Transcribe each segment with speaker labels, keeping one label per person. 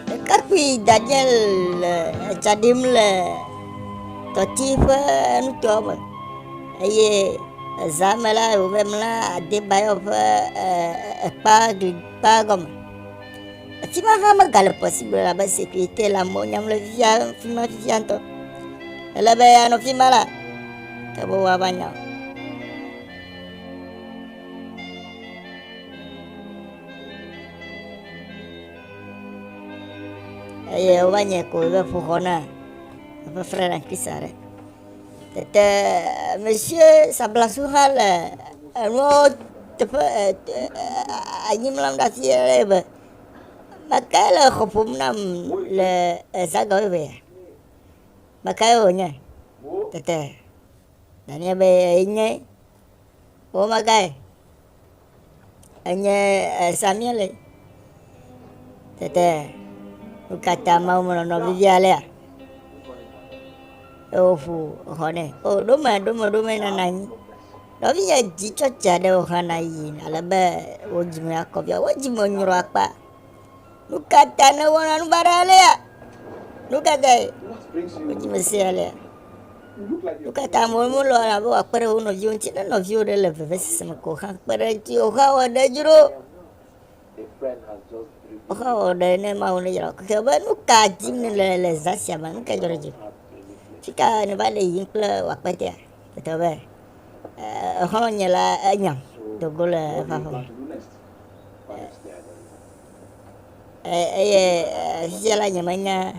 Speaker 1: Ɖekakpui dzadzɛ le etsa ɖim le tɔti ƒe nutoa me eye eza me la wɔ abe mla Adebayo ƒe e ekpa gli kpa gɔme. Ati ma hã mega le ƒe si me o elabe sekirite le amewo nyam le fifia fi ma fifia ŋutɔ. Ele be anɔ afi ma la ke be woava nya o. eye wova nye ko ɖe ƒo xɔ na eƒe fre na kisa ɖe tete mesie sablasu hã le enuɔ teƒe anyimlam ɖe afi aɖe be meke le xɔ ƒom nam le ezaga wo be meke wònye tete nanye be enye wo magae Enye Samia le. Tete wo katã mawo me nɔnɔ vivi alea. Eye woƒu xɔ nɛ. O ɖo me ɖo me ɖo me nana anyi. Nɔvinya dzi tsɔtsi aɖewo hã na yi ale be wo dzime akɔ via. Wo dzime nyrɔ akpa. Nu ka ta nèwɔna nu baɖa alea? Nu ka tae wodzi Mesia ya alea? Nu ka ta amewo melɔ̃na be wòakpe ɖe wo nɔviwo ŋuti ne nɔviwo ɖe le vevesese me ko hã kpe ɖe eŋuti o? Xɔa wɔ ɖe dzro. Xɔa wɔ ɖe ne Mawu nedzra wò keke be nu ka dim nèle le zã sia me, nu ka dzɔ ɖe dziwò? Fi ka nèva le yiyim kple wò akpetea? Tetɔ be eh, exɔlɔ̃nye la enyam do go le eƒe aƒe me. Eye fifia la nyemenya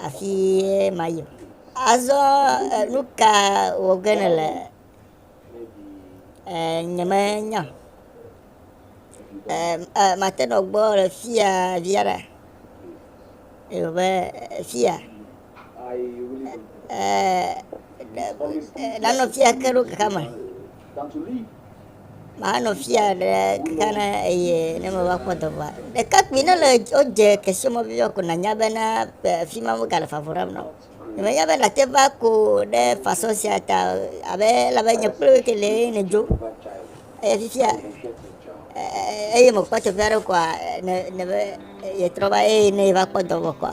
Speaker 1: afi mayi o. Azɔ nuka wɔ ge nèle? Nyemenya o. Mate nɔ gbɔwò le fiya via ɖe? Ewɔ be fiya? nanɔ fia ke ɖo kaka me. Manɔ fia ɖe kaka na eye ne meva kpɔ dɔvɔa. Ɖekakpui ne le wodze kesemɔ vivi ko nanya bena fi ma wogale fafu ɖam na wo. Menya be nate va ko ɖe façon sia ta abe ele abe nye kple wò ke lee ne dzo. Eye fifia eye mekpɔ teƒe aɖe koa ne ne be yetrɔ va eye ne va kpɔ dɔvɔ koa.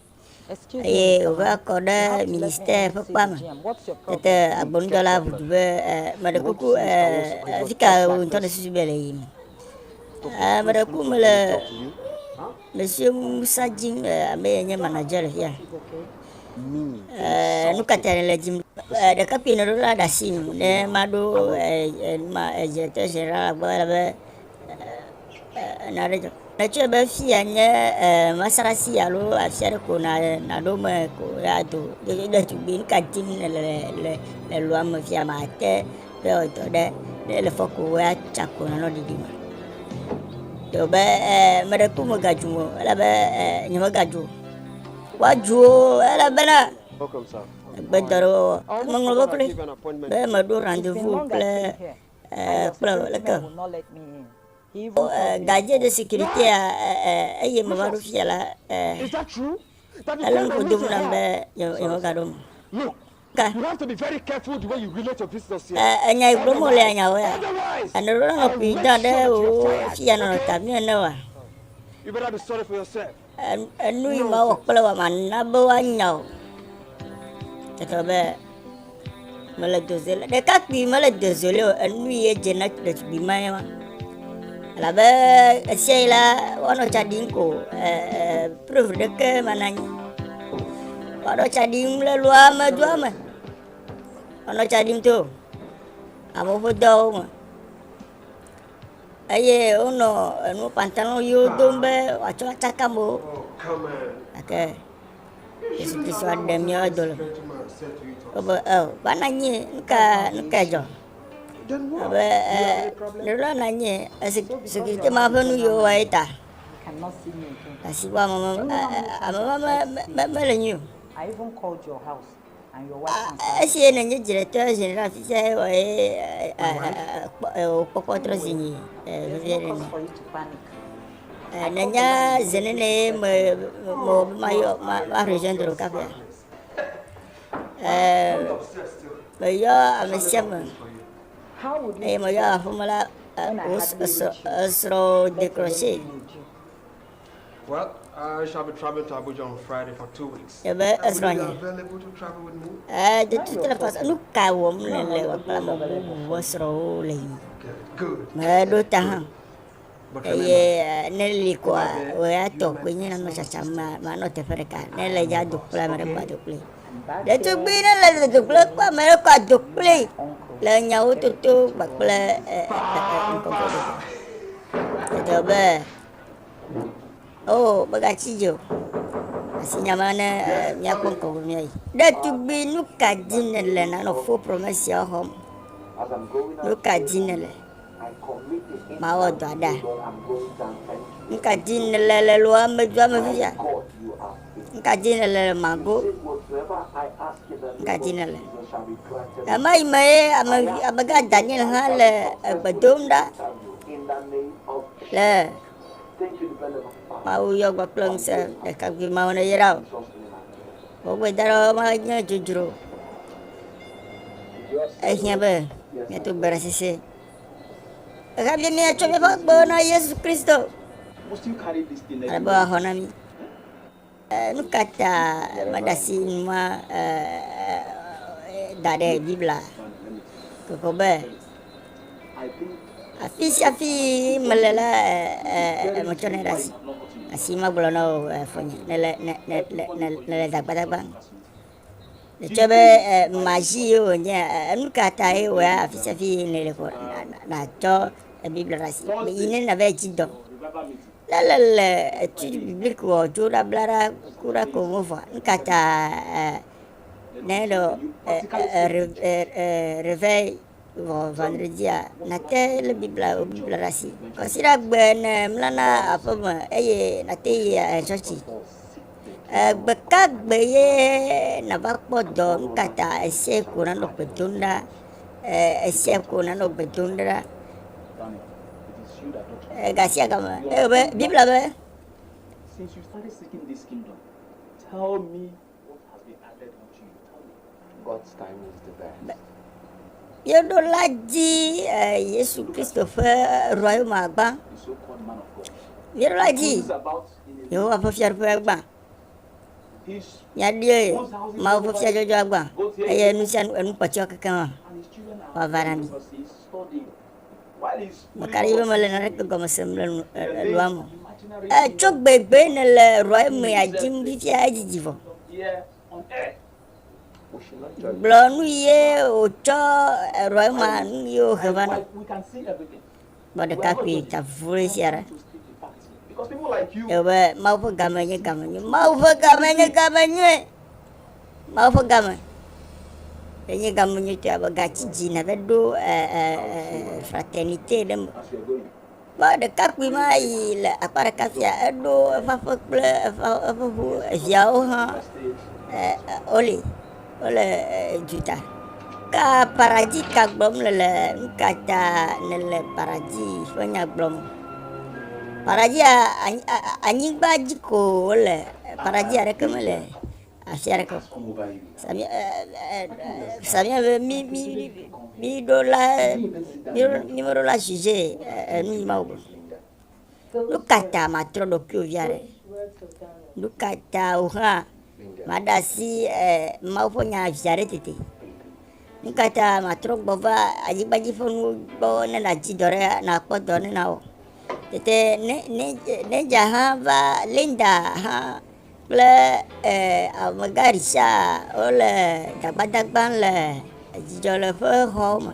Speaker 1: eye wòva kɔ ɖe ministère ƒe kpea me. Tete agbɔnudɔla ʋu du be, meɖe kuku afi ka wò ŋutɔ nèsusu be le yiyim? Meɖe kuku mele Monsieur Musa dim, ame ye nye manager le fia. Nu ka tae nèle dim? Ɖekakpui nɔɖola ɖe asi nu ne maɖo directeur général gbɔ ele be, na ɖe dzɔ. Netsɔe be fia nye eh, masarasi alo afia ɖe ko na naɖo me ko ya do ɖevi ɖetugbi ka dim le le le le lua me fia ma te be ɔdɔ ɖe ne le fɔ ko ya tsa ko na nɔ ɖiɖi me. Yo be eh, me ɖe ko me gaju o, ele be eh, nye me gaju o. Wa ju o, ele be na Welcome,
Speaker 2: sir. gbedɔ ɖe wɔwɔ.
Speaker 1: Meŋlɔ be kloe be meɖo rendez-vous kple eh, kple leke o eh, gadje de sécurité ya eh, eye me va ɖo fia la
Speaker 2: ele nuƒo dom
Speaker 1: nam be yewo gaɖo me
Speaker 2: ka enya yi gblɔm wòle
Speaker 1: anyawo ya ene ɖo la
Speaker 2: mekui da
Speaker 1: ɖe wò fia nɔnɔ ta mi ene wa
Speaker 2: Enu yi
Speaker 1: mawɔ kple wa mana be woanya o. Tete be mele doze le ɖekakpui mele doze le o enu yi edze na ɖetugbui ma ye ma. Elabe esia yi la woanɔ tsa ɖim ko prove ɖeke mana nyi. Woanɔ tsa ɖim le lua me doa me. Woanɔ tsa ɖim to amewo ƒe dɔwo me. Eye wonɔ enu pantalo ɣiwo dom be wòatsɔ atsaka amewo.
Speaker 2: Gake
Speaker 1: Yesu Kristo aɖe mía wo do le me. Wobe, eo, va na anyi, nu ka, nu ka dzɔ? Abe, e, nèɖo na anyi, esi sekirite ma ƒe nu yiwo wɔe ta.
Speaker 3: Asi
Speaker 1: wɔ ame,
Speaker 3: ame
Speaker 1: ma
Speaker 3: mele nyui o.
Speaker 1: Esi ye nenye dzretɔ zi ɖe afi sia ewɔ ye wòkpɔkpɔ trɔ zi nyi vevie ɖe ni. Nenye zi nene ye me mewɔ be mayɔ ma rejoindre wò kaƒea. Meyɔ ame sia ame eye meyɔ aƒeme la esrɔ̃ dekroche.
Speaker 2: Ebe esrɔ̃nye. Ee, de tu tele fɔs.
Speaker 1: Nu ka wɔm le le wòakpla me be wòwuwɔ srɔ̃wo le yi.
Speaker 2: Meɖo ta hã.
Speaker 1: Eye
Speaker 2: eh, ne
Speaker 1: li kɔa, wòatɔ koe nye nanɔ tsatsam, ma- manɔ teƒe ɖeka. Ne le dza do kple ame ɖe kɔa, do kpli. Ɖetugbi ne le le do kple kɔ ame ɖe kɔa, do kpli le nyawo toto kpakple eh, eh, eh, ŋkɔkɔ ɖeka. Edɔ be Oh, megatsi dzi o. Asi nya ma ne eh, míakpɔ ŋkɔ be míayi. Ɖetugbi, nu ka di nèle nanɔ fo promɛsia xɔ me? Nu ka di nèle? Mawɔ dɔ aɖa. Nu ka di nèle le lɔa me dua me fifia? N ka dzi nèle le mago? N ka dzi nèle? Ɣe ma ɣi me ye ame, amegã Daniel hã le egbe dom ɖa le Mawu yɔ gbɔ kple ŋusẽ ɖekakpui mawo ne yra o. Wogbe da ɖe ma nye dzodzro. Ehiã be miato gbe ɖe sese. Ehe bia mia tso míaƒe agbewo na Yesu Kristo. Ale be wòaxɔ na mí. Nu ka ta mèɖe asi nu ma da ɖe Biblia kpɔkpɔ be afi sia afi mele la, metsɔnɛ ɖe asi? Asi magblɔ na wò fofonye, nèle zagbadzagba. Netsɔ be mazi ye wònye, enu ka ta ye wòe afi sia afi ye nèle ko nàtsɔ Biblia ɖe asi yi ne nàva edzi dɔ. Ne le le etu bibliki wɔ tso ɖa bla ɖa ku ɖa ko ŋu vɔ, nu ka ta ne le revɛ Vɔ vandredzia, nàte lé Biblia wò Biblia ɖe asi. Kwasiɖagbe ne mlana aƒe me eye nàte yi tsɔtsi. Gbe ka gbe ye nàva kpɔ dɔ nu ka ta esia ko nanɔ gbe dom ɖa? Esia ko nanɔ gbe dom ɖa. Gasia gama, eye be Biblia be.
Speaker 3: Since you started seeking this kingdom, tell me Yeɖo
Speaker 1: la dzi Yesu Kristo ƒe Royaume gbã.
Speaker 3: Yeɖo la dzi
Speaker 1: Yehowa ƒe fiaɖuƒe gbã. Míaɖi Mawu ƒe fiadzɔdzɔa gbã eye nu sia nu enukpɔtsyɔ kekeŋ wòava na mí. Maka ɖi be mele naneke gɔme sem le nu elɔa me. E tso gbegbe ne le elɔa emea dzim fifia edzidzi vɔ. Gblɔ nu ye wotsɔ elɔa ema nu ye wohe va na. Gbɔ ɖekakpui ta vure sia ɖe. Ebe Mawu ƒe game nye game nyui. Mawu ƒe game nye game nyui. Mawu ƒe game enye game nyuitɔe abe gatsi dzi nève ɖo fraternité ɖe me. Kpɔ ɖekakpui ma yi le akpa ɖeka fia eɖo eƒe aƒe kple eƒe eƒe ʋu eviawo hã wole wole dzuta. Ka paradzi ka gblɔm le le nuka ta nèle paradzi ƒe nya gblɔm? Paradzia anyigba dzi ko wole Paradis aɖeke mele afi aɖeke o. Samia ɛ ɛ samia be mi mi mi ɖo la mi ɖo mi meɖo la juge enu yi Mawu gbe. Nu ka ta matrɔ ɖokuiwò vi aɖe? Nu ka ta wò hã màɖe asi ɛ Mawu ƒe nya viaɖe tete? Nu ka ta matrɔ gbɔ va anyigba dzi ƒe nuwo gbɔ ne nàdi dɔ ɖe nàkpɔ dɔ ne nawɔ? Tete ne ne Neja hã va Linda hã kple eh, amegã Richard wole dagbadagbam le dzidzɔ le ƒe xɔwo me.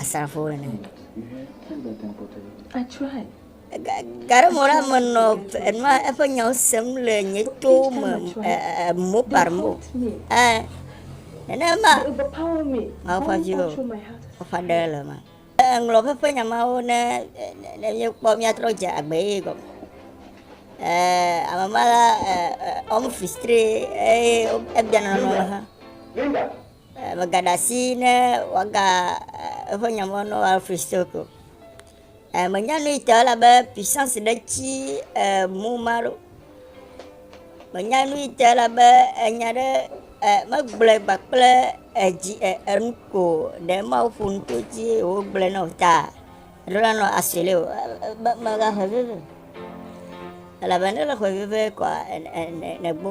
Speaker 1: asrafowo ene.
Speaker 3: Garemɔla
Speaker 1: menɔ enua eƒe nyawo sem le nye to me mo parmo. Nenema mawo
Speaker 3: ƒe viwo
Speaker 1: woƒe aɖe
Speaker 3: le ma.
Speaker 1: Eŋlɔ ƒe nyamawo ne ne míekpɔ míatrɔ dze agbe ye gɔme. Ame ma la ɔmu fistri eye ebiana nɔ ha. Megaɖe asi ne wɔga eƒe nya me ne Alfred Stoke o. Menya nu yi ta elabe puissance ɖe tsi mɔ ma ɖo. Menya nu yi ta elabe enya ɖe megblɔe kpakple edzi enu ko ɖe Mawu ƒo nu to edzi eye wogblɔe na wò ta ɖo la nɔ asɔle o. Megaxɔe vevie elabe ne ele xɔe vevie kɔa nègbo.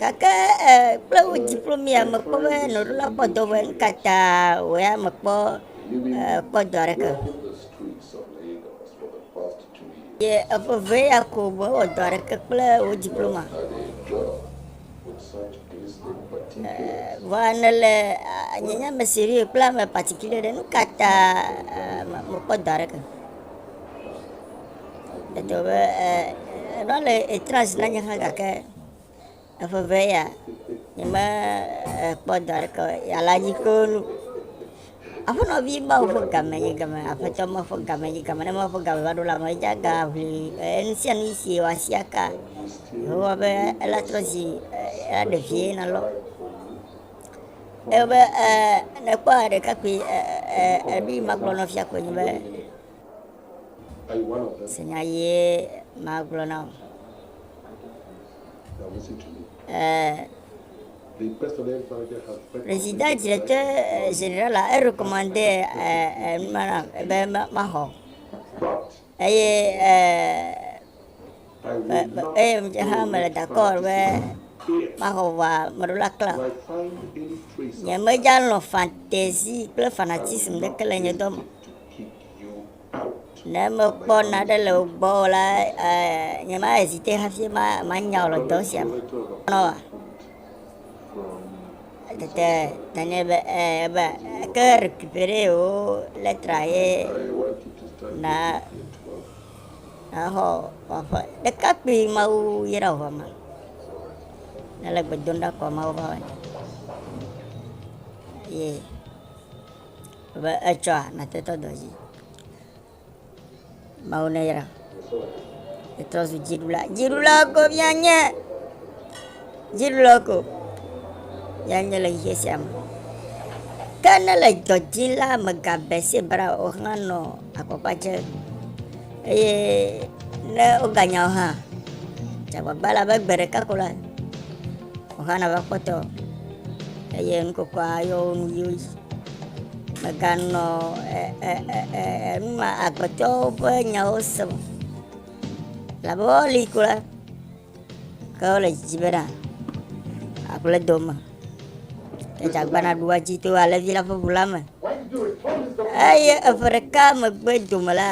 Speaker 4: Gake
Speaker 1: e kple wo dzi ƒlo mia mekpɔ be nɔɖo la kpɔ dɔ be nu ka ta wò ya mekpɔ e kpɔ dɔ aɖeke.
Speaker 4: Ye eveve ya
Speaker 1: ko mewɔ dɔ aɖeke kple wo dzi ƒlo ma.
Speaker 4: Vɔa nèle
Speaker 1: nye nya me siri kple ame patikile ɖe nu ka ta mekpɔ dɔ aɖeke. Edɔ be e, eɖɔ le etra zi na nye hã gake eƒe ʋe ya nyeme ekpɔ dɔ aɖeke o. Ya la dzi kpɔ nu. Aƒenɔ vi Mawu ƒe game yi game, aƒetɔ ma ƒe game yi game, ne ma ƒe game va ɖo la me edze aga ʋli enu sia nu si wɔ asi aka. Yehowa be ela trɔ zi ela ɖe vie na lɔ. Ebe e nekpɔ ɖekakpui e e e ɖi magblɔ nɔ fia ko nyi be
Speaker 4: Ese nya ɣie
Speaker 1: magblɔ na wò.
Speaker 4: Président directeur
Speaker 1: général a erecommande numa nam be maxɔ.
Speaker 4: Eye eye ŋdze hã mele
Speaker 1: d'accord be maxɔ vɔa meɖo la kla.
Speaker 4: Nye medza lɔ̃
Speaker 1: fantaisie kple fanatisme ɖeke le nye dɔ me.
Speaker 4: Ne mekpɔ
Speaker 1: naɖe le wo gbɔ o la, nyema ezite hafi ma manya wò le dɔ sia me. Nɔa.
Speaker 4: Tete tanye
Speaker 1: be eh, ebe ke récupérer wo letra ye
Speaker 4: na na xɔ waƒe
Speaker 1: ɖekakpui mawu yra wò ma. Ne le gbedom ɖa kɔ mawu ba wani. Yeah. Be etsɔa natetɔ dɔ dzi. Mawu ne yra. Etrɔ zu dziɖula. Dziɖula ko via nye. Dziɖula ko. Ya nye le xexia sia me. Ke ne le dɔ dzi la megabe se bra o hã nɔ akɔkpa dze. Eye ne woganya o hã. Dzagbagba la be gbe ɖeka ko la. Xɔxana va kpɔtɔ eye nukokua yɔ wo nu yio. Meganɔ enuma agbetɔwo ƒe nyawo sem. Labe woli ko la, ke wole dzidzi bena aƒle do me. Edzagba naɖu adzi to alẽvi la ƒe ʋu la me. Eye eƒe ɖeka megbe dome la,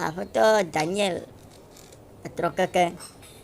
Speaker 1: Aƒetɔ Daniel etrɔ keke.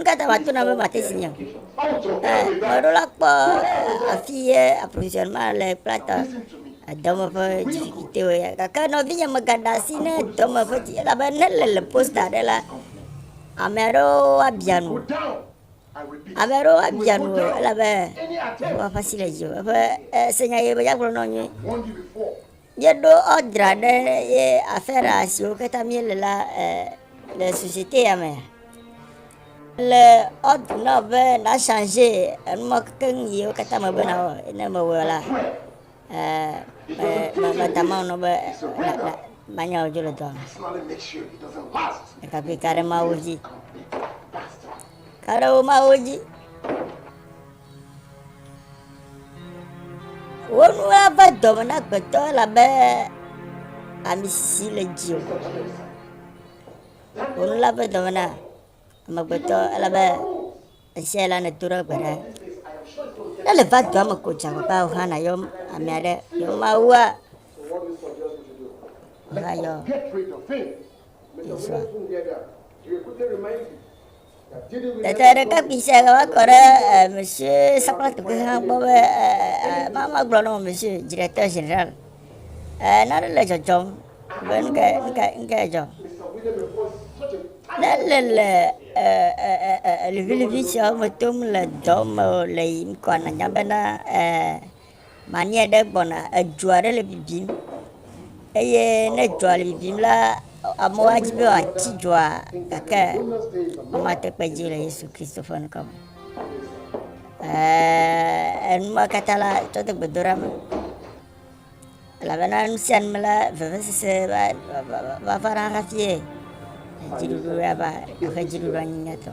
Speaker 3: Nkata va tona be
Speaker 1: mate si nyeo.
Speaker 4: Meɖo la kpɔ
Speaker 1: afi ye approvisionnement le kple ta dɔme
Speaker 4: ƒe difficulté
Speaker 1: wo ya. Gake nɔvinye megaɖe asi ne dɔme ƒe di elabe ne le le posta ɖe la, ame aɖewo abia nu.
Speaker 4: Ame aɖewo abia nu
Speaker 1: elabe Yehowa ƒe
Speaker 4: asi
Speaker 1: le
Speaker 4: dziwò.
Speaker 1: Eƒe senya ye be ya gblɔ na wo nyuie. Míeɖo ɔdra ɖe ye afera siwo katã míele la le société ya me. Le ɔdra na wò be na changer enuma keŋ yiwo katã me be nawɔ. Ne mewɔ la, meta Mawu nɔ be manya wò dzo le dɔa me. Ɖekakpui ka ɖe Mawu dzi. Ka ɖe wo Mawu dzi. Woɖo eƒe dɔme na agbetɔ elabe ami sisi le dziwò. Woɖo eƒe dɔme na amegbetɔ elabe ɣesiaɣi la nèdo ɖe egbe ɖa. Ne nèva dua me ko dze agbagba wò hã nàyɔ ame aɖe ne mawua, wò hã yɔ ye sua. Tete ɖekakpui sia va kɔ ɖe eh, monsieur Sakpla Tukui hã gbɔ be eh, ma ma gblɔ na wò monsieur directeur général. Eh, nane le dzɔdzɔm be nu kae nu kae nu kae dzɔ. Ne le le eh, eh, eh, eh, liʋiliʋi siawo me tom le dɔ me o le yiyim kɔa nanya bena eh, Mani aɖe gbɔna, edzo aɖe le bibim eye ne dzoa le bibim la, amewo adi be yewoatsi dzoa gake womate kpe dzi le Yesu Kristo ƒe ŋkɔ me. Ee, enu ma katã la tsɔ de gbedoɖa me elabena nu sia nu me la vevesese va va- va- va- va na hafie dziɖuɖu ya va eƒe dziɖuɖua nyi nyuitɔ.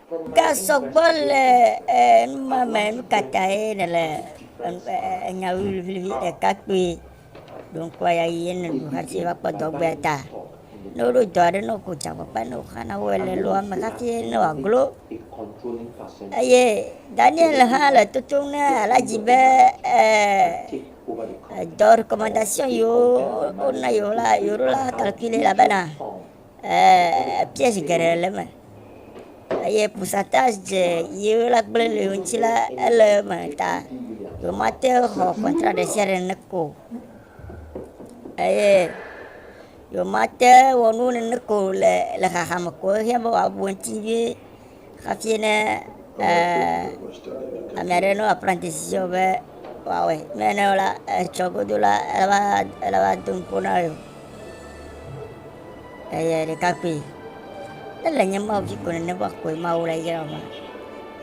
Speaker 4: Gasɔ gbɔ
Speaker 1: le numa me nu ka tae nèle enya ʋiliʋiliʋi ɖeka kpui ɖo ŋkua ya yi ene nu hafi va kpɔ dɔgbe ta ne woɖo dɔ aɖe ne woku dza kpakpa ne woxa na woe le loa me hafi ne wòaglo eye daniel hã le totom ne aladzi be dɔ recommendation yiwo wona yewo la yewo la calcule la bena piège geɖe le eme eye pourcentage dze yi wo la gblẽ le ŋuti la ele eme ta womate ŋu xɔ contrat ɖe sia ɖe ne ko eye womate wɔ nuwo nene ko le le xaxa me ko ehiã be wòabu eŋuti vie. Hafi ne eh, ame aɖe nɔ apprentice dzi be wòawɔe, ne ene o la, etsɔ godo la, ele va ele va do ŋkpo na ye o. Eye ɖekakpui, ele nye Mawu dzi ko nene va koe Mawu le yra ma.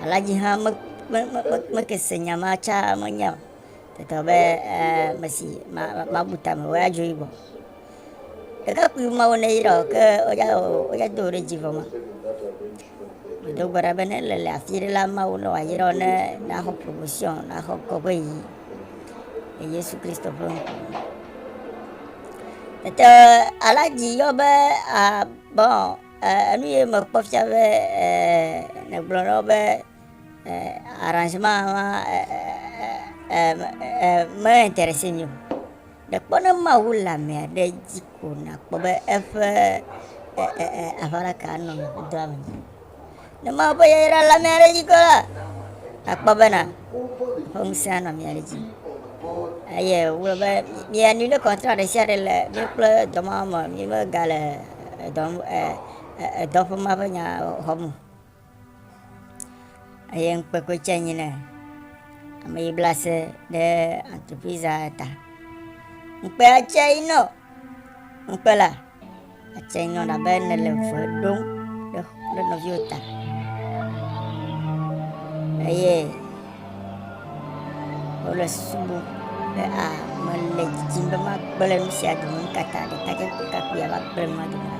Speaker 1: Alhaji hã me me me me- mekese nya ma tsa menya o. Teta be eh, mesi ma ma- mabu tame wɔ adzo yibɔ. Ɖekakpui mawo ne yra o ke woya o woya do ɖe dzi vɔ ma. Do gbe ɖa be ne le le afi ɖe la mawo ne wayra ne naxɔ promotion naxɔ kɔƒe yi le Yesu Kristo ƒe ŋkume. Tete aladzi yɔ be a bon enu ye mekpɔ fia be negblɔ na wo be arrangement ma me intéressé mi o. Nekpɔ ne Mawu le ame aɖe dzi ko nàkpɔ be eƒe aʋaɖaka anɔ mɔdɔa me. Ne Mawu ƒe yayra le ame aɖe dzi ko la, àkpɔ bena eƒe ŋusẽ anɔ mia ɖe dzi. Eye wogblɔ be mianui ɖe kɔntra ɖe sia ɖe le mi kple dɔmawo me, mimegale dɔ dɔƒe ma ƒe nya xɔm o. Eye ŋkpekpe tse nyi ne ame yi bla se ɖe antreprise ta. Ŋkpe tse yi nɔ ŋkpe la atse nyɔ abe ne le vɔe ɖom ɖe ɖe nɔviwo ta. Eye wole susu bɔ be a mele didim be magblẽ nu sia dome nu ka ta ɖekadze ɖekakpui ava gblẽ nua dome na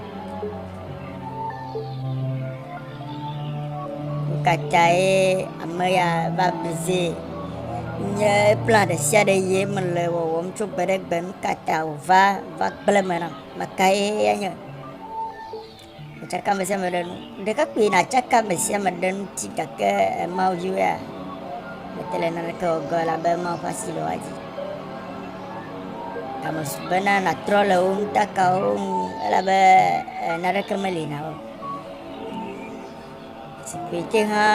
Speaker 1: nu ka tae ame ya va blize nye plan ɖe sia ɖe ye mele wɔwɔm tso gbe ɖe gbe nu ka ta wòva va gblẽ me nam mekae enye Tsaka amesiame ɖe nu. Ɖekakpui natsaka amesiame ɖe ŋuti gake Mawu dzi wea? Mete le naneke wɔ gɔe la be Mawu ƒe asi le woa dzi. Ame su bena natrɔ le wo nutakawo ŋu elabe naneke meli na wo. Tsipritse hã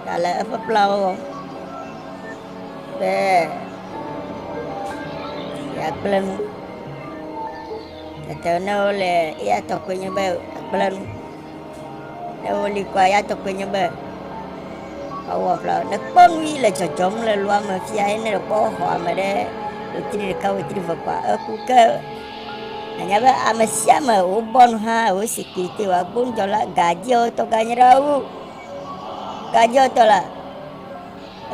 Speaker 1: gale eƒe kplawo wɔ be yeagblẽ nu. Tete ne wole eya tɔ koe nye be agblẽ nu. Ne woli kɔa, eya tɔ koe nye be ewɔ kpla wo. Nekpɔ nu yi le dzɔdzɔm le lua me fia ye ne ekpɔ xɔ ame ɖe wetri ɖeka wetri ve kɔa, eku ke Anya be ame sia ame wobɔ nu hã wo sikirite wa gbɔdɔ la gadziɔtɔ ganyra wo gadziɔtɔ la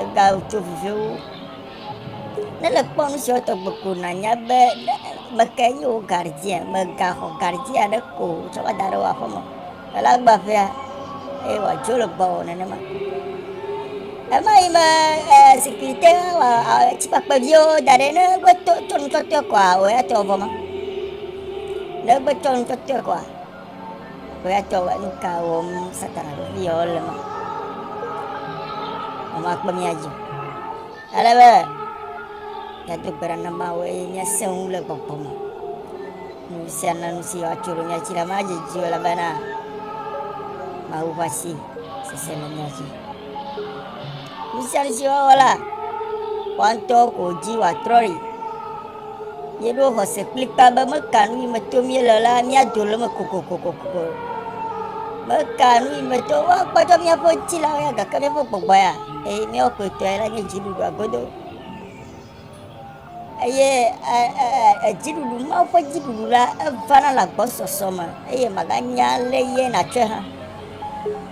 Speaker 1: ega tso viviwo ne le kpɔ nu siɔtɔ gbogbo na nya be meke yi wo gardzia mega xɔ gardzia ɖe ko tsɔ va da ɖe wa xɔ me Ela gba ƒea, eye wòadzo le gbɔwò nenema. Ema yi me eh, zikpui te wɔ atikpakpe viwo da ɖe ne egbe to, to nu tɔtɔe kɔa, wò ya tɔ vɔ ma. Ne egbe tɔ nu tɔtɔe kɔa, wò ya tɔ wɔ nu ka wɔm Satana ɖo fi yɔ le ma. Mama kpe mía dzi. Ale be míado gbe ɖa na Mawu eye míasẽ ŋu le gbɔgbɔ me. Nu sia na nu si woatso ɖe mía dzi la madzedzi o elabena Mawu ƒe asi sese le mía dzi. Nu sia nu si woawɔ la, woawo ŋutɔwo ko dzi wòatrɔ ɖi. Míeɖo xɔse kplikpaa be meka nu yi me tom míele la, míado le eme kokokokoko. Meka nu yi me tom, woakpɔtɔ míaƒe ŋutilawo ya gake míaƒe gbɔgbɔ ya, eye míawo kpɔtɔe la nye dziɖuɖua godo. Eye dziɖuɖu, Mawu ƒe dziɖuɖu la, evana le agbɔsɔsɔ me eye màganya alé ye nàtsɔe hã.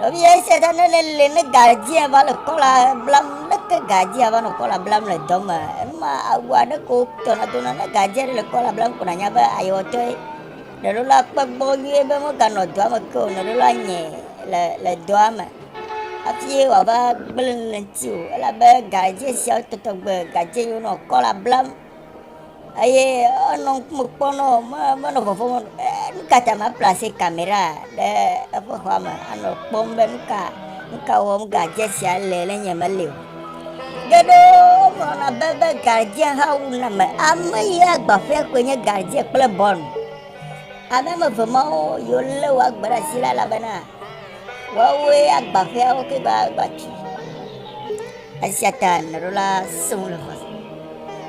Speaker 1: Nɔvia esia ta ne nèle ne gadzi ava le kɔla blam ne ke gadzi ava nɔ kɔla blam le dɔ me enuma awu aɖe ko tɔna dona ne gadzi aɖe le kɔla blam ko nanya be ayewɔtɔe nɔɖo la kpe gbɔ nyuie be meganɔ dɔa me ke o nɔɖo la nye le le dɔa me hafi wòava gblẽ le ŋuti o elabe gadzi siawo tɔtɔ gbe gadzi yiwo nɔ kɔla blam eye enɔ ŋkume kpɔm nɔ me menɔ vɔvɔm o. E, nu ka ta maplase kamera ɖe eƒe xɔa me anɔ kpɔm be nu ka nu ka wɔm gadze sia le ne nye meli o. Ke ɖo wogblɔna be be gadze hã wu name. Ame yi agbaƒea koe nye gadze kple bɔn. Ame ame eve mawo yiwo lé wo agbe ɖe asi la elabena Woawoe agba ƒea wo ke be agba tui. Esia ta nɔɖo la sẽ ŋu le xɔa.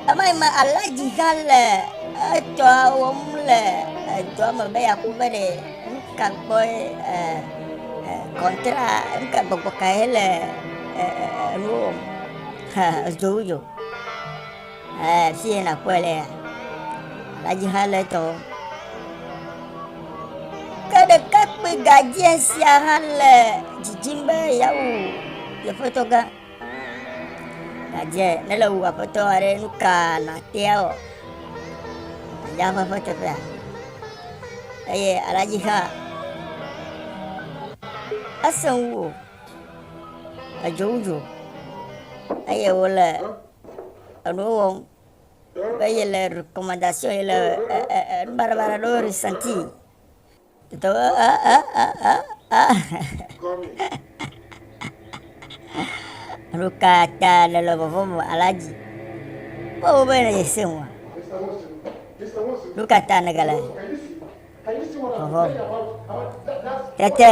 Speaker 1: Ema yi me alaji gã le etɔa wɔm le edɔa me be yeaku be ɖe nu ka gbɔe e e kɔntera nu ka gbɔgbɔ kae le e e e nuwo wɔm. Ha ezo wu dzo. Fiye nakpɔe le ya. Ɖadzi ha le tɔ. Ke ɖekakpui gadzia sia hã le dzidzim be yeawu yeƒetɔ gã. Gadzia ne le wu aƒetɔ aɖe nu ka natea wɔ? Gadzia ƒe ƒe teƒea. Eye aɖadzi hã esẽ wu o. Edzo wu dzo eye wole Eɖewo wɔm be ye le recommendation ye le baɖabaɖa ɖewo resenti. Tɔ a a a a a. Ɖo ka ta le le vɔvɔm alaji. Wo wo be ye se wa. Ɖo ka ta ne gale vɔvɔm. Tete.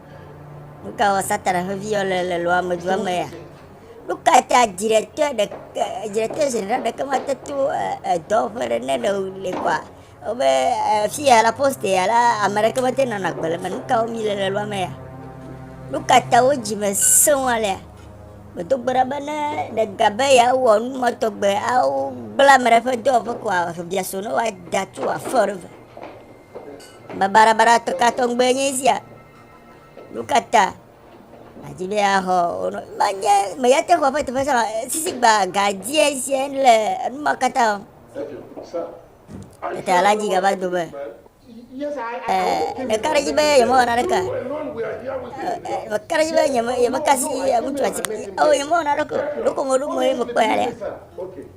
Speaker 1: Nu ka wɔ Satana ƒe viyɔ le le lɔ amedzroa me ya? Nu ka ta dziɖetɔe ɖeke dziɖetɔe zenera ɖeke mate to edɔ ƒe ɖe ne le le kɔa? Wobe fi ya la poste ya la ame ɖeke mate nɔna gbe le me. Nu ka wɔm le le lɔa me ya? Nu ka ta wo dzime sẽŋu alea? Medo gbe ɖa be ne ɖega be yeawɔ nu ma tɔgbe awo gbla ame ɖe ƒe dɔwɔƒe koa biaso ne woada tso afɔ ɖe ve. Babarabara ka tɔgbe nye esia? Nu ka ta nàdi be yeaxɔ wo nɔ? Menye meya te xɔ eƒe teƒe sã o, sisi gba gadzie sie le enu ma katã o.
Speaker 4: Tete alẽa dzi gava
Speaker 1: do be,
Speaker 4: Ee, meka ɖe edzi be nyemewɔ
Speaker 1: naneke
Speaker 4: o. Ee, meka ɖe edzi be nyeme,
Speaker 1: nyemekasi ŋutsua si, eo, nyemewɔ naneke o. Ɖeko meɖo ŋue mekpɔe alea?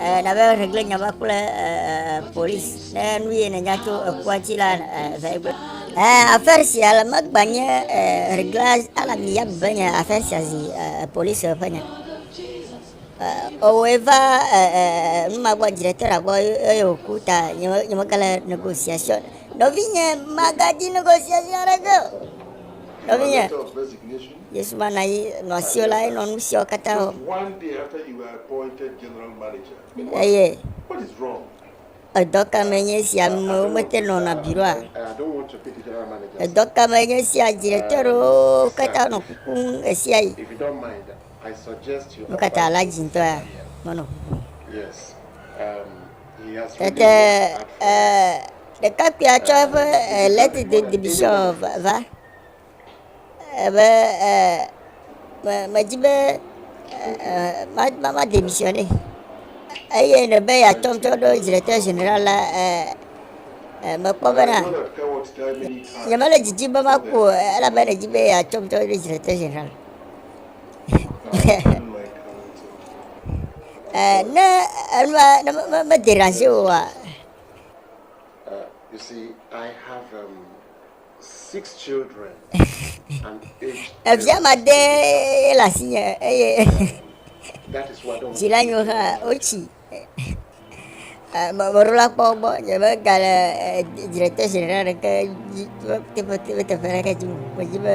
Speaker 1: Eh, nabe regle nya va kple eh, polisi ne nu ye nènya tso ekua dzi la eh, va egbe. Eh, affaire sia le megbe nye eh, regle ala mi ya be nye affaire sia zi eh, polisi ƒe nya. Eh, owoe va eh, eh, nu ma gbɔ directeur gbɔ eye wòku ta nye me- nye megale négociation. Nɔvinye magadi négociation aɖeke o. Nɔvinye. Yesu va na yi nɔ asiwo la enɔ nu siawo katã
Speaker 4: wɔ. Eye edɔ ka me
Speaker 1: nye esi amewo mete nɔna biro a?
Speaker 4: Edɔ ka me nye esi
Speaker 1: adziɖetɔ aɖewo katã nɔ kukum ɣesia
Speaker 4: ɣi? Nu ka ta la dzintɔ ya
Speaker 1: menɔ kukum?
Speaker 4: Tete
Speaker 1: ɖekakpuia tsɔ eƒe lɛtidodibisiɔ va. ebe me medzi be ma ma ma demisiɔnɛ eye ne be yeatrɔ ŋutɔ ɖo Directeur général la e mekpɔ bena nyemele didim be maku o elabe ɖedzi be yeatrɔ ŋutɔ ɖo Directeur général. Eh, ne enua ne me- me- me dérange oa, Uh,
Speaker 4: you see, I have um, Evia ma de
Speaker 1: ye le asi nye eye
Speaker 4: dzila nyo hã wotsi
Speaker 1: mɔɖola kpɔ gbɔ nye be gale dzre tɛ zi ɖeka ɖeke dzi teƒe teƒe teƒe ɖeke dzi o dzi be.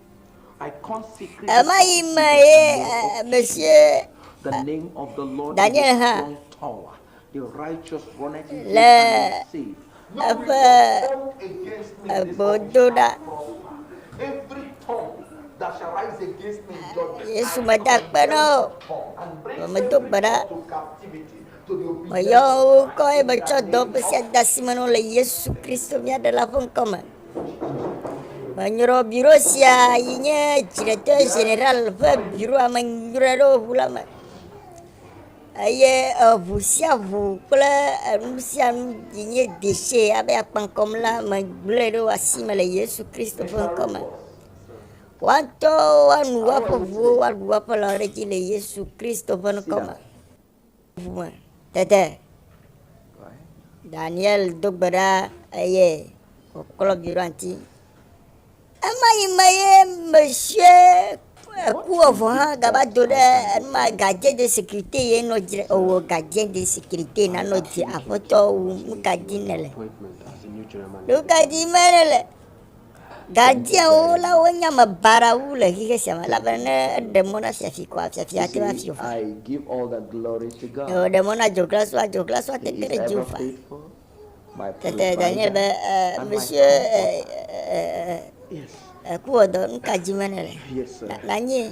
Speaker 3: Ɣemaɣi me ye
Speaker 1: Mesie
Speaker 3: Daniel hã le
Speaker 1: eƒe gbedoɖa.
Speaker 4: Yesu meda akpe
Speaker 1: na wo o,
Speaker 4: medo gbe ɖa. Meyɔ wo ŋkɔ eye
Speaker 1: metsɔ dɔ ƒe sia de asi me na wo le Yesu Kristo mía Ɖela ƒe ŋkɔ me. Menyɔrɔ biro sia yi nye Direktɛ Ʒenerali ƒe Biro Amenyraɖoŋu la me. Eye eŋu sia ŋu kple enu sia nu yi nye deshi abe akpa kɔm la, megblɔe ɖo asi me le Yesu Kristo ƒe ŋkɔ me. Woatɔ woanu woaƒe ŋuwo, woaɖu woaƒe lãwo ɖe edzi le Yesu Kristo ƒe ŋkɔ me. ŋu me. Tete Daniel do gbe ɖa eye wòklɔ biɖoanti. Ema yi me ye mesie eku evo hã gava do ɖe enuma gardien de sécurité ye nɔ dzi ewɔ gardien de sécurité nanɔ dzi aƒetɔ wu nu ka di nele. Nu ka di me nele. Gadziawo la wonye ame baɖawo wu le xexe sia me, elabena ne eɖe mɔ na fiafi koa, fiafia ate ŋu afi Yehowa.
Speaker 3: Ne wòɖe mɔ na dzoglasua,
Speaker 1: dzoglasua ate ŋu te ɖe Yehowa.
Speaker 3: Tete Daniel be,
Speaker 1: Ee, Monsieur
Speaker 3: ee, ee, ee, ee, kuwɔdɔ, nu
Speaker 1: ka dim be nèle? Na, nanyee.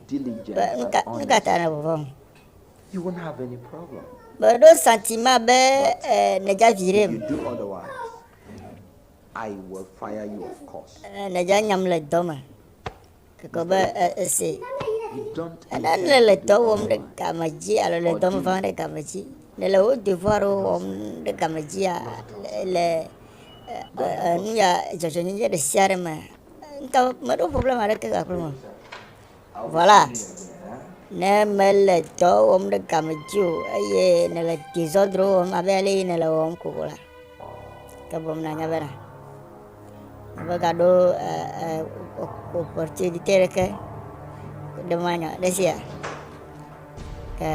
Speaker 3: Be, Nu ka, nu ka ta nèvɔvɔ̃m? Mèɖo santi
Speaker 1: ma be e, nèdza vi ɖem.
Speaker 3: E, nèdza nyam le
Speaker 1: dɔ me. Ekɔ be e, ese.
Speaker 3: Ena nèle le dɔ
Speaker 1: wɔm ɖe
Speaker 3: game
Speaker 1: dzi alo le
Speaker 3: dɔ me
Speaker 1: vam ɖe game dzi. Nèle wò devoir wɔm ɖe game dzia, le e, e, e, nu ya dzɔdzɔnyenye ɖe sia ɖe me Ŋutɔ meɖo problem aɖeke le aƒeme o. Vɔ la, ne mele dɔ wɔm ɖe game dzi o eye nèle dezɔdro wɔm abe ale yi nèle wɔm ko la, ke bom nanya be na. Megaɖo opportunité ɖeke ɖe manya ɖe sia. Ke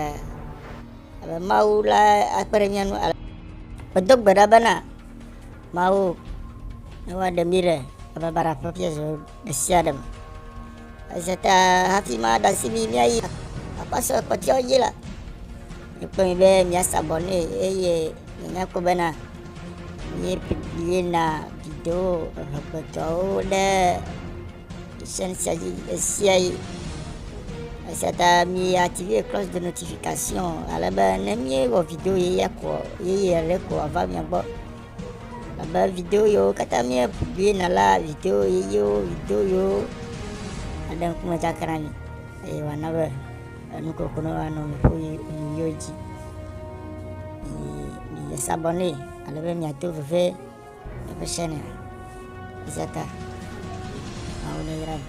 Speaker 1: abe Mawu la akpe ɖe mía ŋu ale. Medo gbe ɖa bena Mawu ava ɖe mí le bababara ƒe fiazo ɖe sia ɖe me. Eze ta hafi ma ɖe asi mí míayi akpasɔ kpɔtɔewo dzi la, mikpɔ mi be miasa bɔ nɛ eye mianya kpɔ bena míeyina video ehegbetɔwo ɖe sɛn sia dzi ɣe sia ɣi. Esia ta mi active cloche de notification ale be ne míewɔ video yeye koa yeye ale koa va mia gbɔ. Abe video yiwo katã míebiena la, video ʋeyiwo, video yiwo aɖe ŋkume dzakana mi eye wòana be enukoko ne woanɔ nuƒo yi nuyiwo dzi. Miyi sabɔnɛ ale be miato veve eƒe chanel. Izaka, mawu ne yra mi.